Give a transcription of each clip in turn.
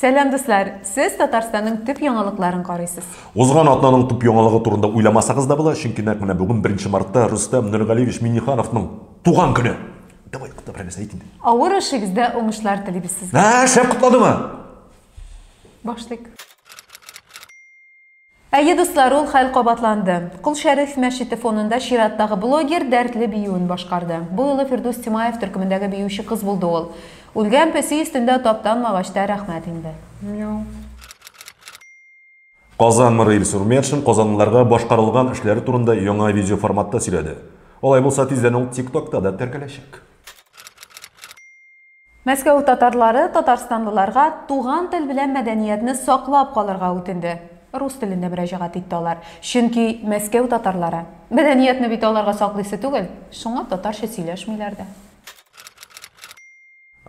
Сәлам, дуслар! Сез Татарстанның төп яңалыкларын карыйсыз. Узган атнаның төп яңалыгы турында уйламасагыз да була, чөнки нәкъ менә бүген 1 мартта Рөстәм Нургалиевич Миннихановның туган көне. Давай, кутла берәр нәрсә әйт инде. Авыр эшегездә уңышлар телибез сезгә. Ә, шәп кутладымы? Башлыйк. Әйе, дуслар, ул хәл кабатланды. Кол Шәриф мәчете фонында чираттагы блогер дәртле биюен башкарды. Бу юлы Фирдүс Тимаев төркемендәге биюче кыз булды ул. Үлгән песи өстендә таптанмагач та рәхмәт инде. Мяу. Казан мэры Илсур Метшин казанлыларга башкарылган эшләре турында яңа видеоформатта сөйләде. Алай булса, тиздән ул TikTok-та да теркәләчәк. Мәскәү татарлары татарстанлыларга туган тел белән мәдәниятне саклап калырга үтенде. Рус телендә мөрәҗәгать итте алар. Чөнки Мәскәү татарлары. Мәдәниятне бит аларга саклыйсы түгел, шуңа татарча сөйләшмиләр дә.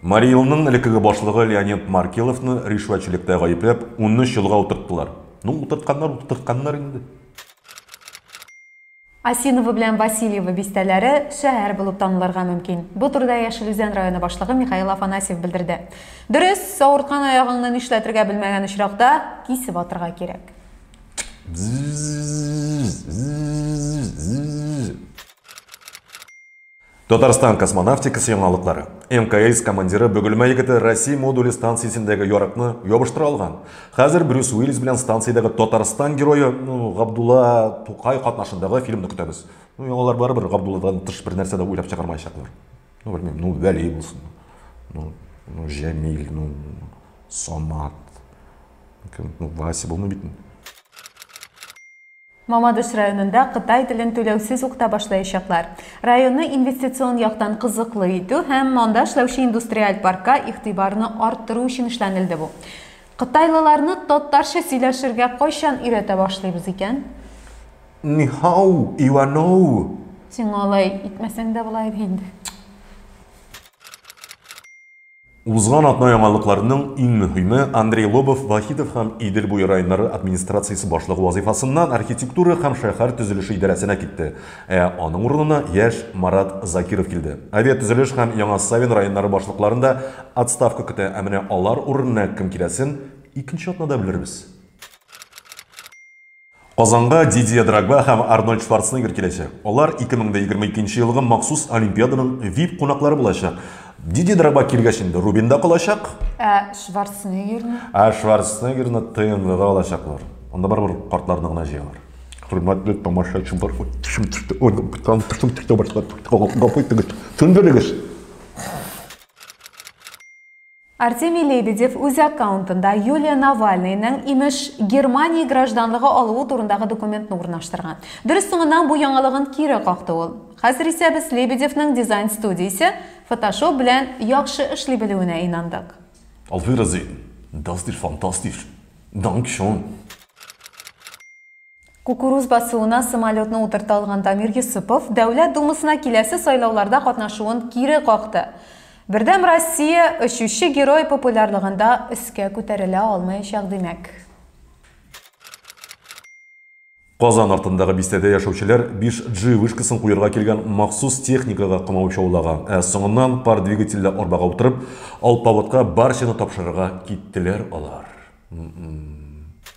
Марий Элның элеккеге башлыгы Леонид Маркеловны ришвәтчелектә гаепләп, унөч елга утырттылар. Ну, утыртканнар, утыртканнар инде. Осиново белән Васильево бистәләре шәһәр булып танылырга мөмкин. Бу турыда Яшел Үзән районы башлыгы Михаил Афанасьев белдерде. Дөрес, авырткан аягыңны нишләтергә белмәгән очракта кисеп атырга кирәк. Татарстан космонавтикасы яңалыклары. МКС командиры Бөгелмә егете Россия модуле станциясендәге ярыкны ябыштыра алган. Хәзер Брюс Уиллис белән станциядәге Татарстан герое ну, Габдулла Тукай катнашындагы фильмны көтәбез. Ну, яңалар барыбер Габдулладан тыш бер нәрсә дә уйлап чыгармаячаклар. Ну, белмим, ну, Вәли булсын. Ну, ну, Җәмил, ну, Самат. Ну, Вася булмый бит. Мамадыш районында кытай телен түләүсез укыта башлаячаклар. Районны инвестицион яктан кызыклы итү һәм анда эшләүче индустриаль паркка игътибарны арттыру өчен эшләнелде бу. Кытайлыларны татарча сөйләшергә кайчан өйрәтә башлыйбыз икән? Нихау, Иваноу! Сиңа алай итмәсәң дә була иде инде. Узган атна яңалыкларның иң мөһиме, Андрей Лобов Вахитов һәм Идел буе районнары администрациясе башлыгы вазыйфасыннан архитектура һәм шәһәр төзелеше идарәсенә китте, ә аның урынына яшь Марат Закиров килде. Авиатөзелеш һәм Яңа Савин районнары башлыкларын да отставка көтә, ә менә алар урынына кем киләсен икенче атнада белербез. Казанга Дидье Дрогба һәм Арнольд Шварценеггер киләчәк. Алар 2022 нче елгы махсус олимпиаданың вип кунаклары булачак. Дидье Дрогба килгәч инде Рубин да калачак. Ә Шварценеггерны? Ә Шварценеггерны ТНВга алачаклар. Анда барыбер картларны гына җыялар. Хөрмәтле тамашачылар, төшем төште, төшем төште башлап, гафу итегез, төндерегез. Артемий Лебедев үз аккаунтында Юлия Навальныйның, имеш, Германия гражданлыгы алуы турындагы документны урнаштырган. Дөрес, соңыннан бу яңалыгын кире какты ул. Хәзер исә без Лебедевның дизайн студиясе Фотошоп белән яхшы эшли белүенә инандык. Auf Wiedersehen! Das ist fantastisch! Dankeschön! Кукуруз басуына самолетны утырта алган Дамир Йосыпов Дәүләт Думасына киләсе сайлауларда катнашуын кире какты. Бердәм Россия очучы герой популярлыгында өскә күтәрелә алмаячак, димәк. Казан артындагы бистәдә яшәүчеләр 5G вышкасын куерга килгән махсус техникага камау чаулага, ә соңыннан пар двигательле арбага утырып, алпавытка барчаны тапшырырга киттеләр алар. М-м.